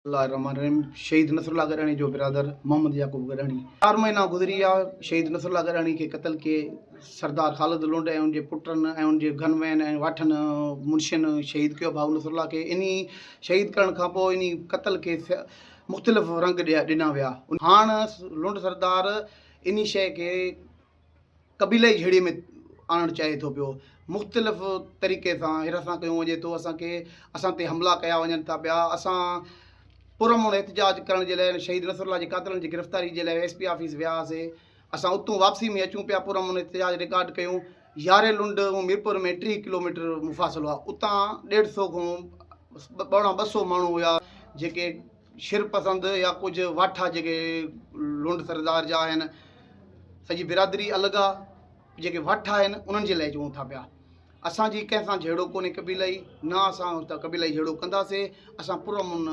الله الرحمٰن الرحيم شهيد نصر الله گڏاڻي جو برادر محمد يعقوب گڏاڻي چار مهينا گذري ويا شهيد نصر الله گڏاڻي کي قتل ڪي سردار خالد لونڊ ۽ ان جي پٽن ۽ ان جي گن وين ۽ واٺن منشين شهيد ڪيو ڀاء نصر الله کي انهي شهيد ڪرڻ کان پوء انهي قتل کي مختلف رنگ ڏنا ويا هاڻ لونڊ سردار انهي شيء کي قبيلائي جهيڙي ۾ آڻڻ چاهي ٿو پيو مختلف طريقي سان هراسان ڪيو وڃي ٿو اسان کي اسان تي حملا ڪيا وڃن ٿا پيا اسان پرامن احتجاج ڪرڻ جي لاء شهيد نصر الله جي قاتلن جي گرفتاري جي لاء ايس پي آفيس ويا هئاسي اسان اتون واپسي ۾ اچون پيا پرامن احتجاج رڪارڊ ڪيون ياري لنڊ ۽ ميرپور ۾ ٽيهه ڪلوميٽر مفاصلو هو اتان ڏيڍ سو کان ٻ سو ماڻهو هيا جيڪي شر پسند يا ڪجهه واٺا جيڪي لنڊ سردار جا آهن سڄي برادري الڳ آ جيڪي واٺا آهن انهن جي لاء چون ٿا پيا اسان جي ڪنهن سان جهيڙو ڪونهي قبيلائي نه اسان هتا قبيلائي جهيڙو ڪنداسي اسان پر امن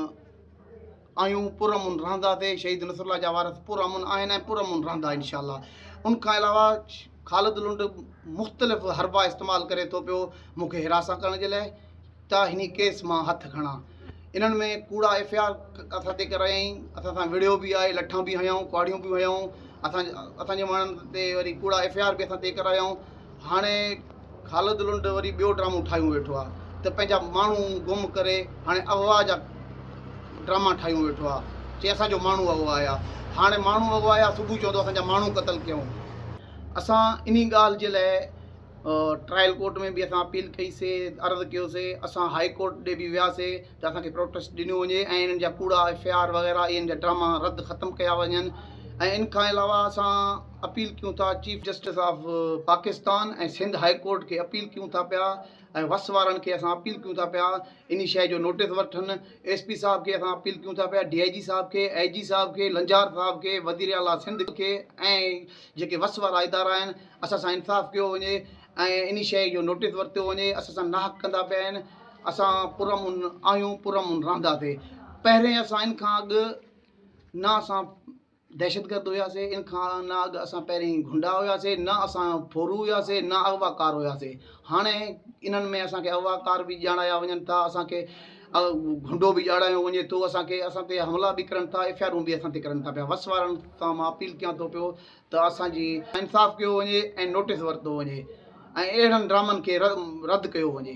آهيون پر امن رهنداسي شهيد نصر الله جا وارث پر امن آهن ۽ پر امن رهندا انشاء الله ان کان علاوه خالد لنڊ مختلف حربا استعمال ڪري ٿو پيو مونکي حراسان ڪرڻ جي لاء ته هني ڪيس مان هٿ کڻان. انهن ۾ ڪوڙا ايف اي آر اسان تي ڪرايائين، اسان سان وڙهيو به آهي، لٺان به هنيائون، ڪهاڙيون به هنيائون، اسان اسان جي ماڻهن تي وري ڪوڙا ايف اي آر به اسان تي ڪرايائون، هاڻي خالد لنڊ وري ٻيو ڊرامو ٺاهيون ويٺو آهي ته پنهنجا ماڻهو گم ڪري هاڻي اغوا جا ڊراما ٺاهيون ويٺو آهي، چي اسان جو ماڻهو اغوايا، هاڻي ماڻهو اغوايا صبح چوندو اسان جا ماڻهو قتل ڪيائون. اسان انهي ڳالهه جي لاء ٽرائل ڪورٽ ۾ به اسان اپيل ڪئي سي عرض ڪيو سي اسان هائي ڪورٽ ڏي به ويا سي ته اسان کي پروٽيسٽ ڏنو وڃي ۽ انهن جا ڪوڙا ايف اي آر وغيره اي ان جا ڊراما رد ختم ڪيا وڃن ۽ ان کان علاوه اسان اپيل ڪيون ٿا chief justice of Pakistan ۽ Sindh high court کي اپيل ڪيون ٿا پيا ۽ وس وارن کي اسان اپيل ڪيون ٿا پيا اني شئي جو نوٽيس وٺن ايس پي صاحب کي اسان اپيل ڪيون ٿا پيا ڊي آئي جي صاحب کي اي جي صاحب کي لنجار صاحب کي وزير اعليٰ سنڌ کي ۽ جيڪي وس وارا ادارا آهن اسان سان انصاف ڪيو وڃي ۽ انهي شيء جو نوٽيس ورتو وڃي اسان سان ناحق ڪندا پيا آهن اسان پرامن آهيون پرامن رهنداسي پهرين اسان ان کان اڳ نه اسان دهشت گرد هياسي ان کان نه اڳ اسان پهرين گنڊا هياسي نه اسان ڦورو هياسي نه اغوا ڪار هياسي هاڻي انهن ۾ اسان کي اغوا ڪار به ڄاڻايا وڃن ٿا اسان کي گنڊو به ڄاڻايو وڃي ٿو اسان کي اسان تي حملا به ڪرن ٿا ايف آر اون به اسان تي ڪرن ٿا پيا وس وارن سان مان اپيل ڪيان ٿو پيو ته اسان جي انصاف ڪيو وڃي ۽ نوٽيس ورتو وڃي ۽ اهڙن ڊرامن کي رد ڪيو وڃي.